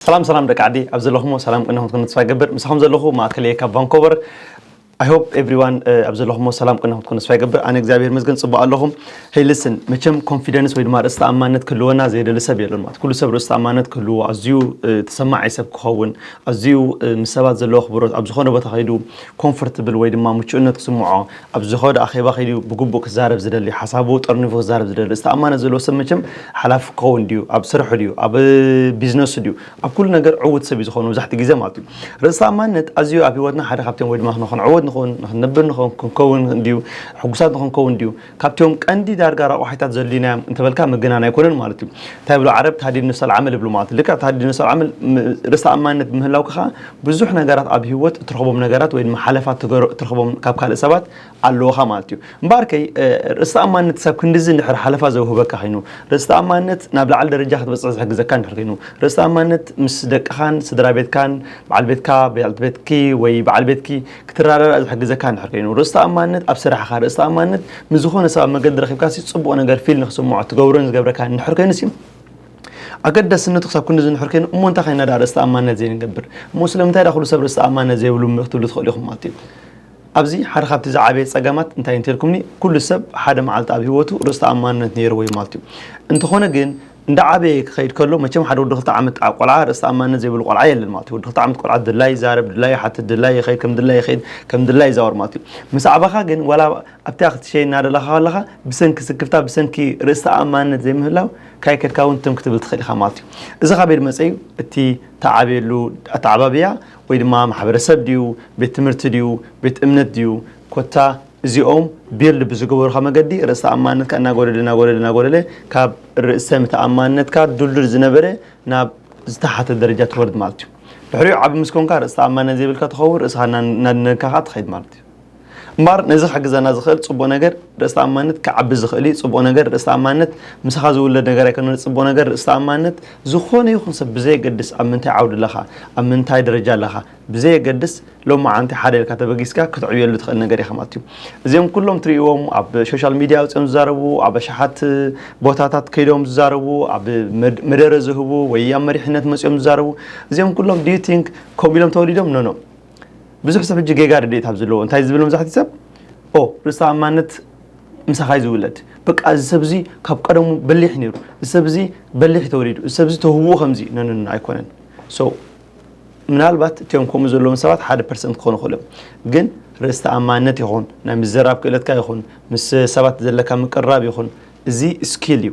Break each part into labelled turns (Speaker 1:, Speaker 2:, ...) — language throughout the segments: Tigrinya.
Speaker 1: ሰላም ሰላም ደቂ ዓዲ ኣብ ዘለኹሞ ሰላም ቅንኹም ትኩኑ ተስፋ ይገብር ምሳኹም ዘለኹ ማእከል እየ ካብ ቫንኮቨር I hope everyone uh, ኣብ ዘለኹሞ ሰላም ቅንኹም ትኩኑ ተስፋ ይገብር ኣነ እግዚኣብሔር መስገን ጽቡቅ ኣለኹም ሄይ ልስን መቸም ኮንፊደንስ ወይ ድማ ርእሲ ተኣማንነት ክህልወና ዘየደሊ ሰብ የለን ማለት ኩሉ ሰብ ርእሲ ተኣማንነት ክህልዎ ኣዝዩ ተሰማዒ ሰብ ክኸውን ኣዝዩ ምስ ሰባት ዘለዎ ክብሮት ኣብ ዝኾነ ቦታ ከይዱ ኮምፎርትብል ወይ ድማ ምቹእነት ክስምዖ ኣብ ዝኸዶ ኣኼባ ከይዱ ብግቡእ ክዛረብ ዝደሊ፣ ሓሳቡ ጠርኒፉ ክዛረብ ዝደሊ፣ እዚ ተኣማነት ዘለዎ ሰብ መቸም ሓላፊ ክኸውን ድዩ፣ ኣብ ስርሑ ድዩ፣ ኣብ ቢዝነሱ ድዩ፣ ኣብ ኩሉ ነገር ዕዉት ሰብ እዩ ዝኸውን መብዛሕትኡ ግዜ ማለት እዩ። ርእሰ ተኣማንነት ኣዝዩ ኣብ ህይወትና ሓደ ካብቲኦም ወይ ድማ ንኽንዕወት ንኽውን፣ ንኽንነብር ንኽውን፣ ክንከውን ድዩ፣ ሕጉሳት ንኽንከውን ድዩ፣ ካብቲኦም ቀንዲ ዳርጋ ረቋሒታት ዘድልዩናዮም እንተበልካ ምግናን ኣይኮነን ማለት እዩ። እንታይ ይብሉ ዓረብ ታህዲድ ንፍሰል ዓመል ይብሉ ማለት እዩ። ልክዕ ታህዲድ ንፍሰል ዓመል ርእሰ ተኣማንነት ብምህላውካ ከኣ ብዙሕ ነገራት ኣብ ሂወት እትረኽቦም ነገራት ወይ ድማ ሓለፋ ትገሮ እትረኽቦም ካብ ካልእ ሰባት ኣለዉኻ ማለት እዩ። እምበኣር ከ ርእስ ተኣማንነት ክሳብ ክንድዚ እንድሕር ሓለፋ ዘውህበካ ኸይኑ፣ ርእስ ተኣማንነት ናብ ልዓሊ ደረጃ ክትበጽሕ ዝሕግዘካ እንድሕር ከይኑ፣ ርእስ ተኣማንነት ምስ ደቅኻን ስድራ ቤትካን፣ በዓል ቤትካ፣ በዓልቲ ቤትኪ ወይ በዓል ቤትኪ ክትረዳዳእ ዝሕግዘካ እንድሕር ከይኑ፣ ርእስ ተኣማንነት ኣብ ስራሕኻ፣ ርእስ ተኣማንነት ምስ ዝኾነ ሰብ ኣብ መገዲ ረኺብካሲ ጽቡቕ ነገር ፊል ንኽስምዖ እትገብሮን ዝገብረካን እንድሕር ከይኑሲ፣ ኣገዳስነቱ ክሳብ ክንዲ ዝንሑር ከይኑ እሞ እንታይ ከይና ድኣ ርእሰ ተኣማንነት ዘይንገብር እሞ ስለምንታይ ድኣ ኩሉ ሰብ ርእሰ ተኣማንነት ዘይብሉ ክትብሉ ትኽእሉ ኢኹም ማለት እዩ ኣብዚ ሓደ ካብቲ ዝዓበየ ጸገማት እንታይ እንተልኩምኒ ኩሉ ሰብ ሓደ መዓልቲ ኣብ ህይወቱ ርእሰ ተኣማንነት ነይርዎ እዩ ማለት እዩ እንተኾነ ግን እንዳዓበየ ክኸይድ ከሎ መቸም ሓደ ወዲ ክልተ ዓመት ቆልዓ ርእሰ ተኣማንነት ዘይብሉ ቆልዓ የለን ማለት እዩ ወዲ ክልተ ዓመት ቆልዓ ድላዩ ይዛረብ ድላዩ ይሓትት ድላዩ ይኸይድ ከም ድላዩ ይኸይድ ከም ድላዩ ይዛወር ማለት እዩ ምስ ኣዕበኻ ግን ዋላ ኣብቲኣ ክትሸይን እናደለኻ ከለኻ ብሰንኪ ስክፍታ ብሰንኪ ርእስ ተኣማንነት ዘይምህላው ካይ ከድካ እውን ትም ክትብል ትኽእል ኢኻ ማለት እዩ እዚ ካበይ ድመፀ እዩ እቲ ተዓብየሉ ኣተዓባብያ ወይ ድማ ማሕበረሰብ ድዩ ቤት ትምህርቲ ድዩ ቤት እምነት ድዩ ኮታ እዚኦም ቢልድ ብዝገበሩካ መገዲ ርእስ ተኣማንነትካ እናጎደለ እናጎደለ እናጎደለ ካብ ርእሰ ምተኣማንነትካ ድልዱል ዝነበረ ናብ ዝተሓተ ደረጃ ትወርድ ማለት እዩ ድሕሪኡ ዓቢ ምስ ኮንካ ርእስ ተኣማንነት ዘይብልካ ትኸውን ርእስኻ እናድነካ ከዓ ትኸይድ ማለት እዩ እምበኣር ነዚ ክሕግዘና ዝኽእል ጽቡቕ ነገር ርእሰ-ተኣማንነት ክዓቢ ዝኽእል እዩ። ጽቡቕ ነገር ርእሰ-ተኣማንነት ምሳኻ ዝውለድ ነገር ኣይኮነን። ጽቡቕ ነገር ርእሰ-ተኣማንነት ዝኾነ ይኹን ሰብ ብዘየገድስ ኣብ ምንታይ ዓውዲ ኣለኻ፣ ኣብ ምንታይ ደረጃ ኣለኻ ብዘየገድስ ሎማዓንቲ ሓደ ኢልካ ተበጊስካ ክትዕብየሉ ትኽእል ነገር እዩ ከምኣት እዩ። እዚኦም ኩሎም ትርእይዎም ኣብ ሾሻል ሚድያ ኣውጺኦም ዝዛረቡ ኣብ ኣሽሓት ቦታታት ከይዶም ዝዛረቡ ኣብ መደረ ዝህቡ ወይ ኣብ መሪሕነት መጺኦም ዝዛረቡ እዚኦም ኩሎም do you think ከምኡ ኢሎም ተወሊዶም? No no። ብዙሕ ሰብ ሕጂ ጌጋ ርድኢት ኣብ ዘለዎ እንታይ ዝብል መብዛሕትኡ ሰብ ኦ ርእሰ ተኣማንነት ምሳኻ እዩ ዝውለድ በቃ እዚ ሰብ እዚ ካብ ቀደሙ በሊሕ ነይሩ እዚ ሰብ እዚ በሊሕ ተወሊዱ እዚ ሰብ እዚ ተውህብኡ ከምዚ ነንን ኣይኮነን ሶ ምናልባት እቲኦም ከምኡ ዘለዎም ሰባት ሓደ ፐርሰንት ክኾኑ ክእሉ ግን ርእሰ ተኣማንነት ይኹን ናይ ምዘራብ ክእለትካ ይኹን ምስ ሰባት ዘለካ ምቅርራብ ይኹን እዚ ስኪል እዩ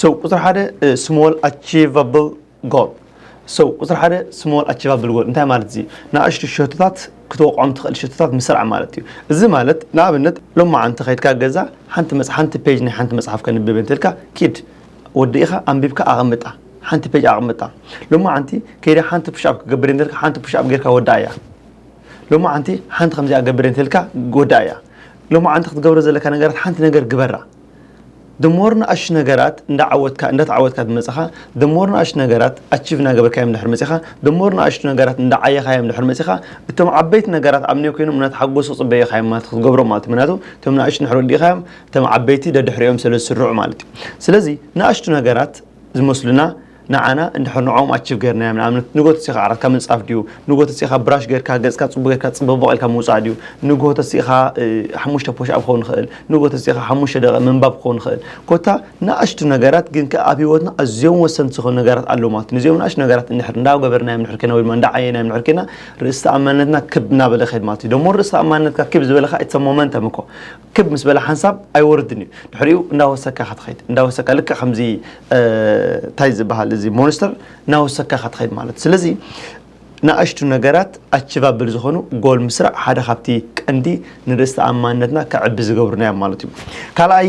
Speaker 1: So ቁፅሪ ሓደ ስሞል ኣቺቫብል ጎል ሶ ቁፅሪ ሓደ ስሞል ኣቺቫብል ጎል እንታይ ማለት እዩ ንኣሽቱ ሸቶታት ክትወቕዖም ትኽእል ሸቶታት ምስራዕ ማለት እዩ እዚ ማለት ንኣብነት ሎማ ዓንቲ ከይድካ ገዛ ሓንቲ ሓንቲ ፔጅ ናይ ሓንቲ መፅሓፍ ከንብብ እንትልካ ኪድ ወዲ ኢኻ ኣንቢብካ ኣቐምጣ ሓንቲ ፔጅ ኣቐምጣ ሎማ ዓንቲ ከይዳ ሓንቲ ፑሽኣፕ ክገብር እንትልካ ሓንቲ ፑሽኣፕ ጌርካ ወዳ እያ ሎማዓንቲ ሓንቲ ከምዚኣ ገብር እንተልካ ጎዳእ እያ ሎማዓንቲ ክትገብሮ ዘለካ ነገራት ሓንቲ ነገር ግበራ the more ንኣሽ ነገራት እንዳዓወትካ እንዳተዓወትካ ዝመጽኻ the more ንኣሽ ነገራት ኣቺቭ እናገበርካዮም ድሕር መጺኻ the more ንኣሽቱ ነገራት እንዳዓየኻዮም ድሕር መጺኻ እቶም ዓበይቲ ነገራት ኣብ ኔ ኮይኖም እናተሓጎሱ ጽበየኻዮም ማለት ክትገብሮም ማለት ምክንያቱ እቶም ንኣሽቱ ድሕር ወዲእኻዮም እቶም ዓበይቲ ደድሕሪኦም ስለ ዝስርዑ ማለት እዩ ስለዚ ንኣሽቱ ነገራት ዝመስሉና ንዓና እንድሕር ንዕኦም ኣቺቭ ገርናዮም ንኣብነት ንግሆ ተሲእኻ ዓራትካ ምንጻፍ ድዩ ንግሆ ተሲእኻ ብራሽ ገርካ ገጽካ ጽቡቅ ገርካ ጽበቦቅ ኢልካ ምውጻእ ድዩ ንግሆ ተሲእኻ ሓሙሽተ ፖሽ ኣብ ክኸውን ይኽእል ንግሆ ተሲእኻ ሓሙሽተ ደቂቅ ምንባብ ክኸውን ይኽእል ኮታ ንኣሽቱ ነገራት ግን ከኣ ኣብ ሂወትና ኣዝዮም ወሰንቲ ዝኾኑ ነገራት ኣለዉ ማለት እዩ ንዚኦም ንኣሽቱ ነገራት እንድሕር እንዳ ገበርናዮም እንድሕር ኬና ወይ ድማ እንዳ ዓየናዮም እንድሕር ኬና ርእሰ ተኣማንነትና ክብ እናበለ ይኸይድ ማለት እዩ ደሞ ርእሰ ተኣማንነትካ ክብ ዝበለ ከኣ ኢትስ ሞመንተም እኮ ክብ ምስ በለ ሓንሳብ ኣይወርድን እዩ ድሕሪኡ እንዳወሰካ ኢኻ ትኸይድ እንዳወሰካ ልክዕ ከምዚ እንታይ ዝበሃል እዚ ሞንስተር እናወሰካ ኢኻ ትኸይድ ማለት ስለዚ ንኣሽቱ ነገራት ኣችቫብል ዝኾኑ ጎል ምስራዕ ሓደ ካብቲ ቀንዲ ንርእስ ተኣማንነትና ከዕቢ ዝገብሩና እዮም ማለት እዩ ካልኣይ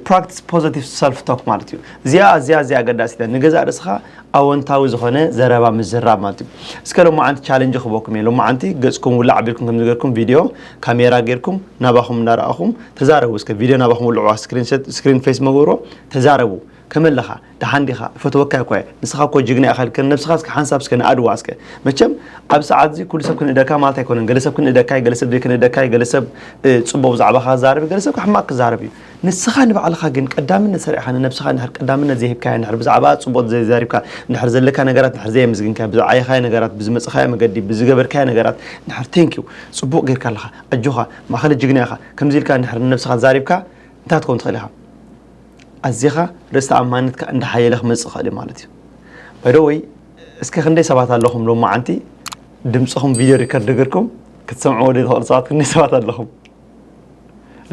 Speaker 1: ፕራክቲስ ፖዘቲቭ ሰልፍ ቶክ ማለት እዩ እዚኣ ኣዝያ ኣዝያ ኣገዳሲት እያ ንገዛእ ርእስኻ ኣወንታዊ ዝኾነ ዘረባ ምዝራብ ማለት እዩ እስከ ሎማዓንቲ ቻለንጅ ክበኩም እየ ሎማዓንቲ ገጽኩም ውላዕ ኣቢልኩም ከም ዝገርኩም ቪድዮ ካሜራ ጌርኩም ናባኹም እንዳረኣኹም ተዛረቡ እስከ ቪድዮ ናባኹም ውልዕዋ ስክሪን ፌስ መጎርዎ ተዛረቡ ከመይ ኣለኻ ደሓን ዲኻ እፈትወካ እኳ እየ ንስኻ እኮ ጅግና ኢኻ ልከ ነብስኻ እስከ ሓንሳብ እስከ ንኣድዋ እስከ መቸም ኣብ ሰዓት እዚ ኩሉ ሰብ ክንእደካ ማለት ኣይኮነን ገለ ሰብ ክንእደካ ገለ ሰብ ዘይክንእደካ ገለ ሰብ ጽቡቕ ብዛዕባኻ ክዛረብ ገለ ሰብ ሕማቕ ክዛረብ እዩ ንስኻ ንባዕልኻ ግን ቀዳምነት ሰሪዕኻ ንነብስኻ እንድሕር ቀዳምነት ዘይሂብካያ እንድሕር ብዛዕባኣ ጽቡቕ ዘይዛሪብካ እንድሕር ዘለካ ነገራት እንድሕር ዘየምስግንካያ ብዝዓየኻዮ ነገራት ብዝመጸኻዮ መገዲ ብዝገበርካዮ ነገራት እንድሕር Thank you ጽቡቕ ጌርካ ኣለኻ ኣጆኻ ማእከለ ጅግና ኢኻ ከምዚ ኢልካ እንድሕር ንነብስኻ ዛሪብካ እንታይ ክትከውን ትኽእል ኢኻ ኣዚኻ ርእስ ተኣማንነትካ እንዳሓየለ ክመጽእ ይኽእል እዩ ማለት እዩ By the way እስከ ክንደይ ሰባት ኣለኹም ሎማዓንቲ ድምጽኹም ቪድዮ ሪከርድ ጌርኩም ክትሰምዕዎ ዘይትኽእሉ ሰባት ክንደይ ሰባት ኣለኹም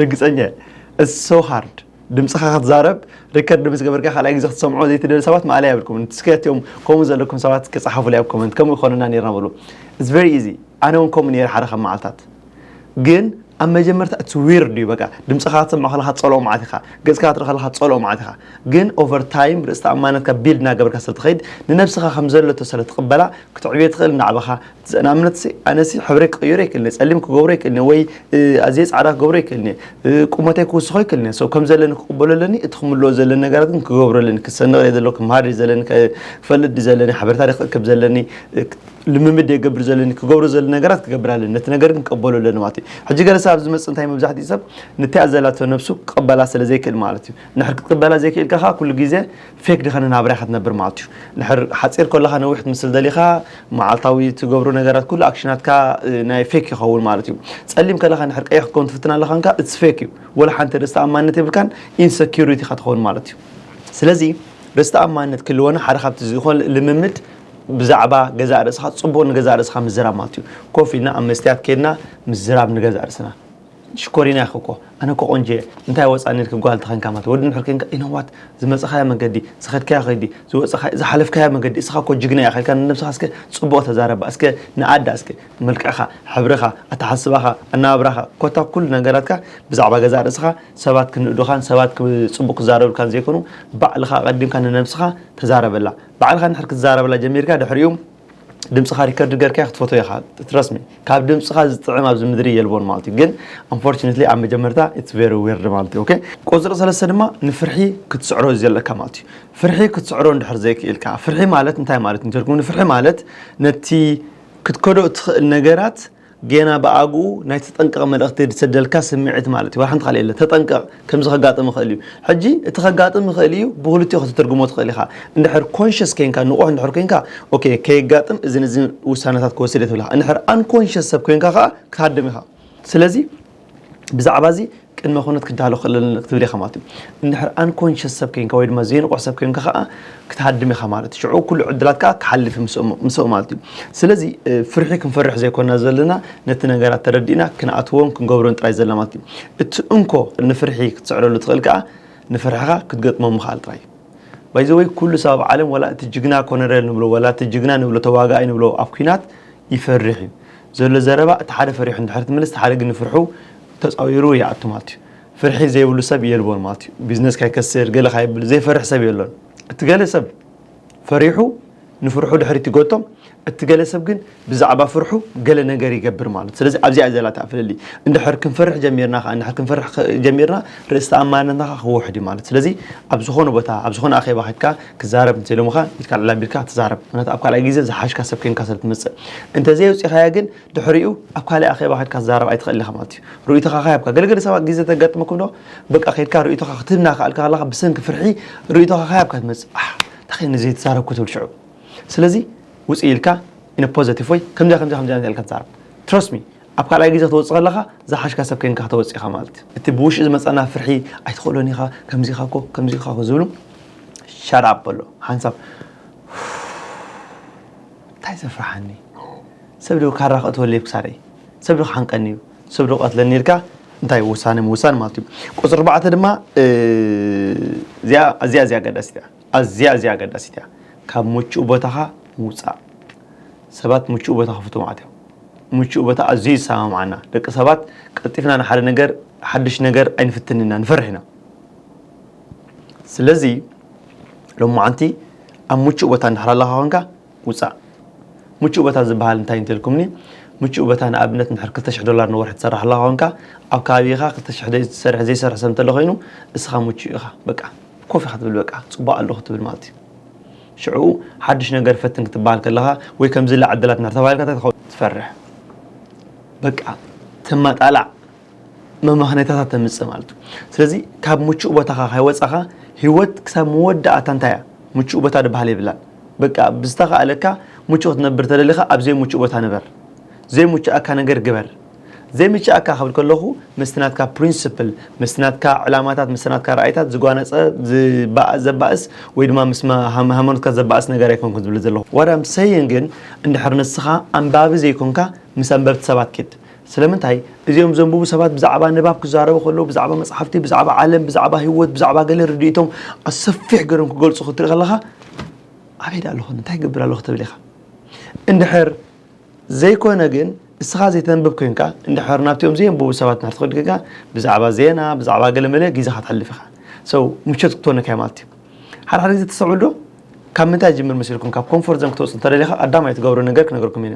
Speaker 1: ርግጸኛ እየ ኢትስ ሶ ሃርድ ድምፅኻ ክትዛረብ ሪከርድ ምስ ገበርካ ካልኣይ ግዜ ክትሰምዖ ዘይትደሊ ሰባት ማእለያ የብልኩም ንስከትዮም ከምኡ ዘለኩም ሰባት ክፀሓፉለይ ኣብ ኮመንት ከምኡ ይኮነና ነርና በሉ ኢትስ ቨሪ ኢዚ ኣነ እውን ከምኡ ነይረ ሓደ ካብ መዓልታት ግን ኣብ መጀመርታ ኢትስ ዊርድ እዩ በቃ ድምፅኻ ክትሰምዖ ከለካ ትፀልኦ መዓት ኢኻ ገፅካ ክትርኢ ከለካ ትፀልኦ መዓት ኢኻ ግን ኦቨር ታይም ርእስቲ ኣማነትካ ቢልድ እናገበርካ ስለትኸይድ ንነብስኻ ከም ዘለቶ ስለትቕበላ ክትዕብዮ ትኽእል ናዕባኻ ዘእናምነትሲ ኣነሲ ሕብረይ ክቕይሮ ኣይክእልን እየ ጸሊም ክገብሮ ኣይክእልን እየ ወይ ኣዝየ ጻዕዳ ክገብሮ ኣይክእልን እየ ቁመተይ ክውስኾ ኣይክእልን እየ ሰው ከም ዘለኒ ክቕበሎ ኣለኒ እቲ ክምልኦ ዘለኒ ነገራት ግን ክገብሮ ኣለኒ ክሰንቕ እየ ዘሎ ክምሃር እየ ዘለኒ ክፈልጥ እየ ዘለኒ ሓበሬታ እየ ክእክብ ዘለኒ ልምምድ እየ ክገብር ዘለኒ ክገብሮ ዘለኒ ነገራት ክገብር ኣለኒ ነቲ ነገር ግን ክቕበሎ ኣለኒ ማለት እዩ ሕጂ ገለ ሰብ ኣብዚ መጽእ እንታይ መብዛሕትኡ ሰብ ንቲኣ ዘላቶ ነብሱ ክቕበላ ስለ ዘይክእል ማለት እዩ ንድሕር ክትቅበላ ዘይክእልካ ከኣ ኩሉ ግዜ ፌክ ድኸነ ናብራ ኢኻ ትነብር ማለትዩ ንድሕር ሓጺር ኮለኻ ነዊሕት ምስል ደሊኻ መዓልታዊ ትገብሮ ነገራት ኩሉ ኣክሽናትካ ናይ ፌክ ይኸውን ማለትዩ ጸሊም ከለኻ ንድሕር ቀይሕ ክትከውን ትፍትን ኣለኻ እንካ እትስ ፌክ እዩ ወላ ሓንቲ ርእስ ተኣማንነት የብልካን ኢንሰኪሪቲ ኢኻ ትኸውን ማለትዩ ስለዚ ርእስ ተኣማንነት ክልወና ሓደ ካብቲ ዝኾል ልምምድ ብዛዕባ ገዛእ ርእስኻ ጽቡቕ ንገዛእ ርእስኻ ምዝራብ ማለትዩ ኮፍ ኢልና ኣብ መስትያት ኬድና ምዝራብ ንገዛእ ርእስና ሽኮሪና ኢኺ እኮ ኣነ እኮ ቆንጆየ እንታይ ወጻኒ ኢልኪ ጓል ተኸንካ ማለት ወዲ እንድሕር ኬንካ you know what ዝመጸኻዮ መገዲ ዝኸድካዮ ከይዲ ዝወጸኻዮ ዝሓለፍካዮ መገዲ እስኻ እኮ ጅግና ኢኻ ኢልካ ንነብስኻ እስከ ጽቡቕ ተዛረባ እስከ ንኣዳ እስከ መልክዕኻ ሕብርኻ ኣተሓስባኻ ኣነባብራኻ ኮታ ኩሉ ነገራትካ ብዛዕባ ገዛእ ርእስኻ ሰባት ክንእዱኻን ሰባት ጽቡቕ ክዛረብልካን ዘይኮኑ ባዕልኻ ኣቐዲምካ ንነብስኻ ተዛረበላ ባዕልኻ እንድሕር ክትዛረበላ ጀሚርካ ድሕሪኡ ድምጽኻ ሪከርድ ገርካዮ ክትፈትዎ ኢኻ ትረስሚ ካብ ድምጽኻ ዝጥዕም ኣብዚ ምድሪ የልቦን ማለት እዩ ግን ኣንፎርቹነትሊ ኣብ መጀመርታ ኢትስ ቨሪ ዊርድ ማለት እዩ ኦኬ ቁፅሪ ሰለስተ ድማ ንፍርሒ ክትስዕሮ እዩ ዘለካ ማለት እዩ ፍርሒ ክትስዕሮ እንድሕር ዘይክኢልካ ፍርሒ ማለት እንታይ ማለት እንተልኩም ንፍርሒ ማለት ነቲ ክትከዶ እትኽእል ነገራት ጌና ብኣግኡ ናይ ተጠንቀቕ መልእኽቲ ዝሰደልካ ስምዒት ማለት እዩ። ዋላ ሓንቲ ቃል የለን። ተጠንቀቕ ከምዚ ከጋጥም ይኽእል እዩ። ሕጂ እቲ ከጋጥም ይኽእል እዩ ብኽልቲኡ ከተትርጉሞ ትኽእል ኢኻ። እንድሕር ኮንሸስ ኴንካ ንቑሕ እንድሕር ኴንካ ኦኬ ከየጋጥም እዝን እዝን ውሳነታት ክወስድ እየ ትብል ኢኻ። እንድሕር ኣንኮንሸስ ሰብ ኴንካ ከኣ ክትሃድም ኢኻ። ስለዚ ብዛዕባ እዚ ቅድመ ኩነት ክዳሎ ክእል ክትብል ኢኻ ማለት እዩ እንድሕር ኣንኮንሽስ ሰብ ኮይንካ ወይ ድማ ዘይንቑሕ ሰብ ኮይንካ ከዓ ክትሃድም ኢኻ ማለት እዩ ሽዑ ኩሉ ዕድላት ከዓ ክሓልፍ ምስኡ ማለት እዩ ስለዚ ፍርሒ ክንፈርሕ ዘይኮና ዘለና ነቲ ነገራት ተረዲእና ክንኣትዎን ክንገብሮን ጥራይ ዘለና ማለት እዩ እቲ እንኮ ንፍርሒ ክትስዕረሉ ትኽእል ከዓ ንፍርሕኻ ክትገጥሞ ምኽኣል ጥራይ እዩ ባይዘወይ ኩሉ ሰብ ኣብ ዓለም ወላ እቲ ጅግና ኮነረል ንብሎ ወላ እቲ ጅግና ንብሎ ተዋጋኣይ ንብሎ ኣብ ኩናት ይፈርሕ እዩ ዘሎ ዘረባ እቲ ሓደ ፈሪሑ እንድሕር ትምልስ እቲ ሓደ ግን ንፍርሑ ተጻዊሩ ይኣቱ ማለት እዩ ፍርሒ ዘይብሉ ሰብ የልቦን ማለት እዩ ቢዝነስ ካይከስር ገለ ካይብል ዘይፈርሕ ሰብ የሎን እቲ ገለ ሰብ ፈሪሑ ንፍርሑ ድሕሪት ይጎቶ እቲ ገለ ሰብ ግን ብዛዕባ ፍርሑ ገለ ነገር ይገብር ማለት ስለዚ ኣብዚኣ ዘላ እታ ፍልልይ እንድሕር ክንፈርሕ ጀሚርና ከኣ እንድሕር ክንፈርሕ ጀሚርና ርእስ ተኣማንነትና ከኣ ክውሕድ እዩ ማለት ስለዚ ኣብ ዝኾነ ቦታ ኣብ ዝኾነ ኣኼባ ከድካ ክዛረብ እንተ ኢሎምኻ ኢድካ ልዕል ኣቢልካ ትዛረብ ምክንያቱ ኣብ ካልኣይ ግዜ ዝሓሽካ ሰብ ኴንካ ስለ ትመጽእ እንተዘይ ኣውጺኻያ ግን ድሕሪኡ ኣብ ካልእ ኣኼባ ከድካ ትዛረብ ኣይትኽእልን ኢኻ ማለት እዩ ርእይቶኻ ከሃብካ ገለ ገለ ሰባት ግዜ ተጋጥመኩም ዶ በቃ ከድካ ርእይቶኻ ክትህብ እናኸኣልካ ከለኻ ብሰንኪ ፍርሒ ርእይቶኻ ከሃብካ ትመጽእ ኣሕ እንታይ ከ ንዘይ ተዛረብኩ ትብል ሽዑ ስለዚ ውጽእ ኢልካ ኢነ ፖዘቲቭ ወይ ከምዚኣ ከምዚኣ ከምዚኣ ኢልካ ትዛረብ ትረስት ሚ ኣብ ካልኣይ ግዜ ክትወጽእ ከለኻ ዝሓሽካ ሰብ ኴንካ ክትወጽእ ኢኻ ማለት እዩ። እቲ ብውሽጢ ዝመጸና ፍርሒ ኣይትኽእሎን ኢኻ ከምዚ ኢኻ እኮ ከምዚ ኢኻ እኮ ዝብሉ shut up በሎ ሓንሳብ እንታይ ዘፍርሓኒ ሰብ ዶ ካራ ክእትወለይ ክሳረይ ሰብ ዶ ክሓንቀኒ እዩ ሰብ ዶ ቀትለኒ ኢልካ እንታይ ውሳነ ምውሳን ማለት እዩ ቁፅሪ ኣርባዕተ ድማ እዚኣ እዚኣ ኣገዳሲት እያ ኣዝያ እዚኣ ኣገዳሲት እያ ካብ ምቹእ ቦታኻ ምውፃእ ሰባት ምቹእ ቦታ ክፍትዉ ማለት እዮም። ምቹእ ቦታ ኣዝዩ ይሰማምዓና። ደቂ ሰባት ቀልጢፍና ንሓደ ነገር ሓድሽ ነገር ኣይንፍትን ኢና፣ ንፈርሕ ኢና። ስለዚ ሎማዓንቲ ኣብ ምቹእ ቦታ እንድሕር ኣለኻ ኮንካ ውፃእ። ምቹእ ቦታ ዝበሃል እንታይ እንተልኩምኒ ምቹእ ቦታ ንኣብነት እንድሕር 200 ዶላር ንወርሒ ትሰርሕ ኣለኻ ኮንካ ኣብ ከባቢኻ 200 ዝሰርሕ ዘይሰርሕ ሰብ እንተሎ ኮይኑ እስኻ ምቹእ ኢኻ በቃ ኮፍ ኢኻ ትብል በቃ ፅቡቅ ኣለኹ ትብል ማለት እዩ። ሽዑ ሓድሽ ነገር ፈትን ክትበሃል ከለኻ ወይ ከምዝላ ዕድላት እንድሕር ተባሂልካ እንታይ ትኸውን? ትፈርሕ። በቃ ተማጣላዕ መመኽነይታታት ተምጽእ ማለት እዩ። ስለዚ ካብ ምቹእ ቦታኻ ካይወጻኻ ህይወት ክሳብ መወዳእታ እንታይ እያ ምቹእ ቦታ ድበሃል የብላን። በቃ ብዝተኻእለካ ምቹእ ክትነብር ተደሊኻ ኣብ ዘይምቹእ ቦታ ንበር። ዘይምቹኣካ ነገር ግበር። ዘይምችኣካ ክብል ከለኹ ምስቲ ናትካ ፕሪንስፕል፣ ምስቲ ናትካ ዕላማታት፣ ምስቲ ናትካ ራእይታት ዝጓነጸ፣ ዝባእ፣ ዘባእስ ወይ ድማ ምስ ሃይማኖትካ ዘባእስ ነገር ኣይኮንኩን ዝብል ዘለኹ። What I'm saying ግን እንድሕር ንስኻ ኣንባቢ ዘይኮንካ ምስ ኣንበብቲ ሰባት ኪድ። ስለምንታይ እዚኦም ዘንብቡ ሰባት ብዛዕባ ንባብ ክዛረቡ ከለዉ ብዛዕባ መጽሓፍቲ፣ ብዛዕባ ዓለም፣ ብዛዕባ ህይወት፣ ብዛዕባ ገለ ርድኢቶም ኣሰፊሕ ገይሮም ክገልጹ ክትርኢ ከለኻ ኣበይ ደኣ ኣለኹ እኒ እንታይ ይገብር ኣለኹ ትብል ኢኻ። እንድሕር። ዘይኮነ ግን እስኻ ዘይተንብብ ኮይንካ እንድሕር ናብቲኦም ዘየንብቡ ሰባት እንድሕር ትኸይድ ኮይንካ ብዛዕባ ዜና ብዛዕባ ገለመለ ግዜኻ ተሕልፍ ኢኻ so ምቾት ክትኮነካ እዩ ማለት እዩ ሓደ ሓደ ግዜ ተስተውዕል ዶ ካብ ምንታይ ጅምር መሲልኩም ካብ ኮምፎርት ዞን ክትወፅ እንተደሊኻ ኣዳማይ ትገብሮ ነገር ክነገርኩም እዩ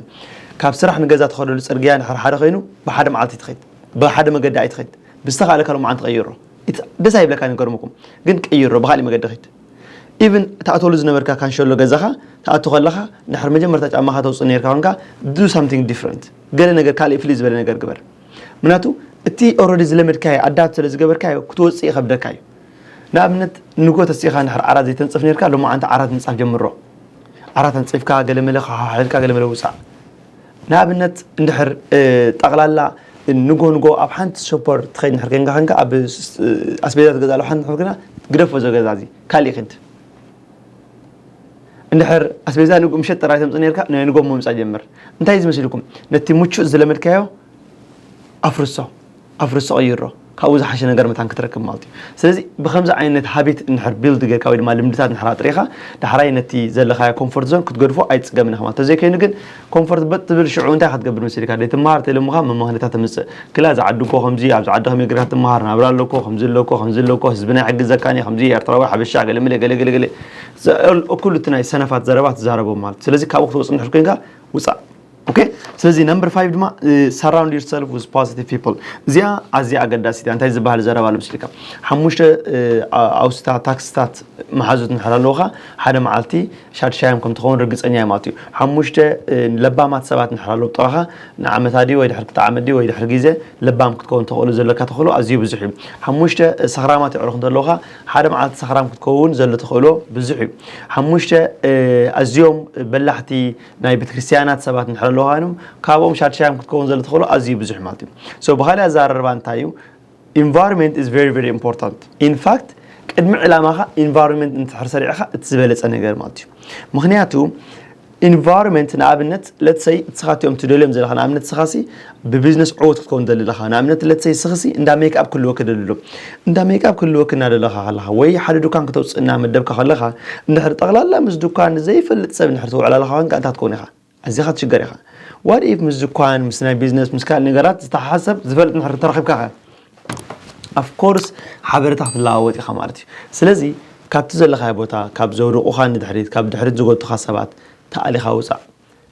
Speaker 1: ካብ ስራሕ ንገዛ ትኸደሉ ፅርግያ ድሕር ሓደ ኮይኑ ብሓደ መዓልቲ ትኸይድ ብሓደ መገዲ ኣይትኸይድ ብዝተኻእለ ካልኦ መዓልቲ ቀይሮ ደስ ኣይብለካ ይገርምኩም ግን ቀይሮ ብካሊእ መገዲ ኸይድ ኢቭን ትኣትወሉ ዝነበርካ ካንሸሎ ገዛኻ ትኣቱ ከለኻ ድሕሪ መጀመርታ ጫማኻ ተውጽእ ነርካ ኮንካ ዱ ሳምቲንግ ዲፍረንት ገለ ነገር ካልእ ፍልይ ዝበለ ነገር ግበር ምክንያቱ እቲ ኦረዲ ዝለመድካዮ ኣዳብት ስለ ዝገበርካዮ ክትወጽእ ይኸብደካ እዩ ንኣብነት ንጎ ተሲእኻ ድሕሪ ዓራት ዘይተንጽፍ ነርካ ሎማዓንቲ ዓራት ምንጻፍ ጀምሮ ዓራት ኣንጺፍካ ገለመለ ከሓሓልካ ገለመለ ውጻእ ንኣብነት እንድሕር ጠቕላላ ንጎ ንጎ ኣብ ሓንቲ ሱፐር ትኸይድ እንድሕር ኴንካ ኴንካ ኣብ ኣስቤዛ ትገዝኣሉ ሓንቲ እንድሕር ኮይና ግደፎ እዚ ገዛ እዚ ካሊእ ኪድ እንድሕር ኣስቤዛ ንጉ ምሸት ጥራይ ተምጽእ ነርካ ናይ ንጎ ምምጻእ ጀምር እንታይ እዚ መሲልኩም ነቲ ምቹእ ዝለመድካዮ ኣፍርሶ ኣፍርሶ ቀይሮ ካብኡ ዝሓሸ ነገር መታን ክትረክብ ማለት እዩ ስለዚ ብከምዚ ዓይነት ሃቢት እንድሕር ቢልድ ጌርካ ወይ ድማ ልምድታት እንድሕር ኣጥሪኻ ዳሕራይ ነቲ ዘለኻዮ ኮንፎርት ዞን ክትገድፎ ኣይትጽገምን ኢኻ ማለት ተዘይከይኑ ግን ኮንፎርት በጥ ትብል ሽዑ እንታይ ኢኻ ትገብር መሲልካ ደይትመሃር ተይለሙኻ መማህነታ ተምጽእ ክላ እዚ ዓዲ እኮ ከምዚ ኣብዚ ዓዲ ከመይ ጌርካ ትመሃር ናብራ ኣሎ እኮ ከምዚ ኣሎ እኮ ከምዚ ኣሎ እኮ ህዝብና ኣይሕግዘካን እዩ ከምዚ ኤርትራዊ ሓበሻ ገለመለ ገለገለገለ እኩል እቲ ናይ ሰነፋት ዘረባ ትዛረቦም ማለት እዩ ስለዚ ካብኡ ክትወጽእ እንድሕር ኮንካ ውጻእ ኦኬ ስለዚ ነምበር ፋይቭ ድማ ሰራውንድ ዩር ሰልፍ ዊዝ ፖዚቲቭ ፒፕል እዚኣ ኣዝያ ኣገዳሲት እያ እንታይ ዝበሃል ዘረባ ልምስልካ ሓሙሽተ ኣውስታ ታክስታት መሓዙት ንድሕር ኣለውካ ሓደ መዓልቲ ሻድሻዮም ከም ትኸውን ርግፀኛ እዮም ኣትዩ ሓሙሽተ ለባማት ሰባት ንድሕር ኣለዉ ጥራኻ ንዓመታ ድዩ ወይ ድሕር ክልተ ዓመት ድዩ ወይ ድሕር ግዜ ለባም ክትከውን ተኽእሉ ዘለካ ተኽእሎ ኣዝዩ ብዙሕ እዩ ሓሙሽተ ሰኽራማት የዕሩኽ እንተለውካ ሓደ መዓልቲ ሰኽራም ክትከውን ዘሎ ተኽእሎ ብዙሕ እዩ ሓሙሽተ ኣዝዮም በላሕቲ ናይ ቤተክርስትያናት ሰባት ንድሕር ኣለውሃይኖም ካብኦም ሻድሻዮም ክትከውን ዘለ ተኽእሎ ኣዝዩ ብዙሕ ማለት እዩ ሶ ብኻሊእ ኣዘራርባ እንታይ እዩ ኢንቫይሮንመንት ኢዝ ቨሪ ቨሪ ኢምፖርታንት ኢንፋክት ቅድሚ ዕላማኻ ኢንቫይሮንመንት እንትሕር ሰሪዕኻ እቲ ዝበለፀ ነገር ማለት እዩ ምክንያቱ ኢንቫይሮንመንት ንኣብነት ለትሰይ ንስኻትዮም ትደልዮም ዘለኻ ንኣብነት ስኻሲ ብቢዝነስ ዕዉት ክትከውን ትደሊ ኣለኻ ንኣብነት ለትሰይ ስኽሲ እንዳ ሜክኣፕ ክህልወኪ ደሊ ኣሎ እንዳ ሜክኣፕ ክህልወኪ እናደለኻ ከለኻ ወይ ሓደ ዱካን ክተውፅእ እናመደብካ ከለኻ እንድሕር ጠቕላላ ምስ ዱካን ንዘይፈልጥ ሰብ እንድሕር ተውዕላለኻ ኮንካ እንታይ ክትከውን ኢኻ ኣዚኻ ትሽገር ኢኻ ዋት ኢፍ ምስ ዱካን ምስ ናይ ቢዝነስ ምስ ካልእ ነገራት ዝተሓሓዝ ሰብ ዝፈልጥ እንድሕር ተረኺብካ ከ ኣፍኮርስ ሓበሬታ ክትለዋወጥ ኢኻ ማለት እዩ ስለዚ ካብቲ ዘለኻዮ ቦታ ካብ ዘውድቑኻ ንድሕሪት ካብ ድሕሪት ዝጎቱኻ ሰባት ተኣሊኻ ውፃእ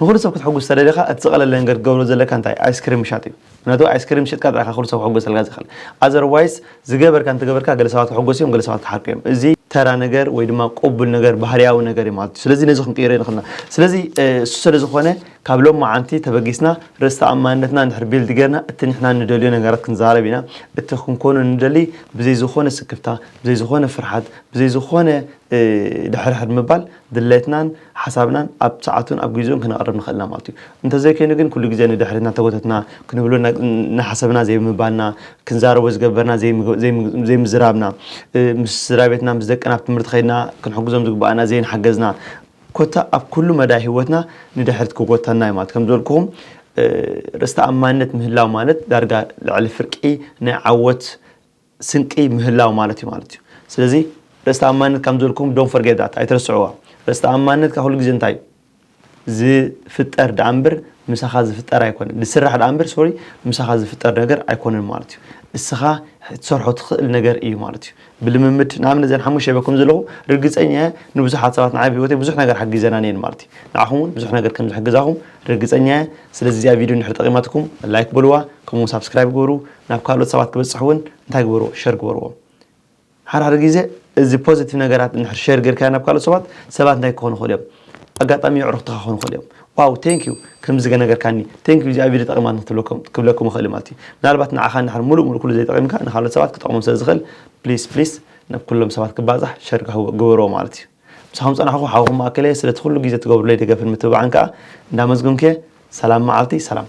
Speaker 1: ንኹሉ ሰብ ክትሕጉስ ተደሊኻ እቲ ዝቐለለ ነገር ክትገብሮ ዘለካ እንታይ እዩ? ኣይስክሪም ምሻጥ እዩ። ምኽንያቱ ኣይስክሪም ሸጥካ ጥራይ ኢኻ ኩሉ ሰብ ክሕጎሰልካ ዝኽእል። ኣዘርዋይስ ዝገበርካ እንተገበርካ ገለ ሰባት ክሕጎሱ እዮም ገለ ሰባት ክሓርቁ እዮም። እዚ ተራ ነገር ወይ ድማ ቅቡል ነገር ባህርያዊ ነገር እዩ ማለት እዩ። ስለዚ ነዚ ክንቅይሮ ኣይንኽእልና። ስለዚ እሱ ሰለዝኾነ ካብ ሎምዓንቲ ተበጊስና ርእስ ተኣማንነትና እንድሕር ቢልድ ጌርና እቲ ንሕና ንደልዮ ነገራት ክንዛረብ ኢና። እቲ ክንኮኖ ንደሊ ብዘይ ዝኾነ ስክፍታ፣ ብዘይ ዝኾነ ፍርሓት፣ ብዘይ ዝኾነ ድሕርሕር ምባል ድሌትናን ሓሳብናን ኣብ ሰዓቱን ኣብ ጊዚኡን ክነቕርብ ንኽእልና ማለት እዩ። እንተዘይከይኑ ግን ኩሉ ጊዜ ንድሕሪት እናተጎተትና፣ ክንብሎ እናሓሰብና ዘይምባልና፣ ክንዛረቦ ዝገበርና ዘይምዝራብና፣ ምስ ስድራቤትና ምስ ደቅና ኣብ ትምህርቲ ከይድና ክንሕግዞም ዝግበኣና ዘይንሓገዝና፣ ኮታ ኣብ ኩሉ መዳይ ህይወትና ንድሕሪት ክጎትተና እዩ ማለት። ከምዝበልኩኹም ርእሰ ተኣማንነት ምህላው ማለት ዳርጋ ልዕሊ ፍርቂ ናይ ዓወት ስንቂ ምህላው ማለት እዩ ማለት እዩ ስለዚ ርእስ ተኣማንነት ከም ዘልኩም ዶን ፈርጌዳት ኣይትረስዕዋ ርእስ ተኣማንነትካ ኩሉ ግዜ እንታይ እዩ ዝፍጠር ደኣ እምበር ምሳኻ ዝፍጠር ኣይኮነን ዝስራሕ ደኣ እምበር ሶሪ ምሳኻ ዝፍጠር ነገር ኣይኮነን ማለት እዩ እስኻ ትሰርሖ ትኽእል ነገር እዩ ማለት እዩ ብልምምድ ንኣብነት ዘን ሓሙሽተ ይበኩም ዘለኹ ርግፀኛ እየ ንብዙሓት ሰባት ንዓይ ብሂወተይ ብዙሕ ነገር ሓጊዘናን እየን ማለት እዩ ንዓኹም እውን ብዙሕ ነገር ከም ዝሕግዛኹም ርግፀኛ እየ ስለዚ እዚኣ ቪድዮ እንድሕር ጠቂማትኩም ላይክ በልዋ ከምኡ ሳብስክራይብ ግበሩ ናብ ካልኦት ሰባት ክበጽሕ ውን እንታይ ግበርዎ ሸር ግበርዎም ሓደ ሓደ ግዜ እዚ ፖዘቲቭ ነገራት እንድሕር ሸር ጌርካዮ ናብ ካልኦት ሰባት ሰባት እንታይ ክኾኑ ይኽእሉ እዮም ኣጋጣሚ የዕሩኽትኻ ክኾኑ ይኽእሉ እዮም ዋው ቴንክ ዩ ከምዚ ገነገርካኒ ቴንክ ዩ እዚኣ ቪድዮ ጠቒማኒ ክብለኩም ይኽእል ማለት እዩ ምናልባት ንዓኻ እንድሕር ሙሉእ ሙሉእ ኩሉ ዘይጠቒምካ ንካልኦት ሰባት ክጠቕሞም ስለ ዝኽእል ፕሊስ ፕሊስ ናብ ኩሎም ሰባት ክባዛሕ ሸር ግበርዎ ማለት እዩ ምሳኹም ጸናሕኹ ሓውኹም ማእከለየ ስለቲ ኩሉ ግዜ ትገብሩለይ ደገፍን ምትብባዕን ከኣ እንዳመስገንኩ እየ ሰላም መዓልቲ ሰላም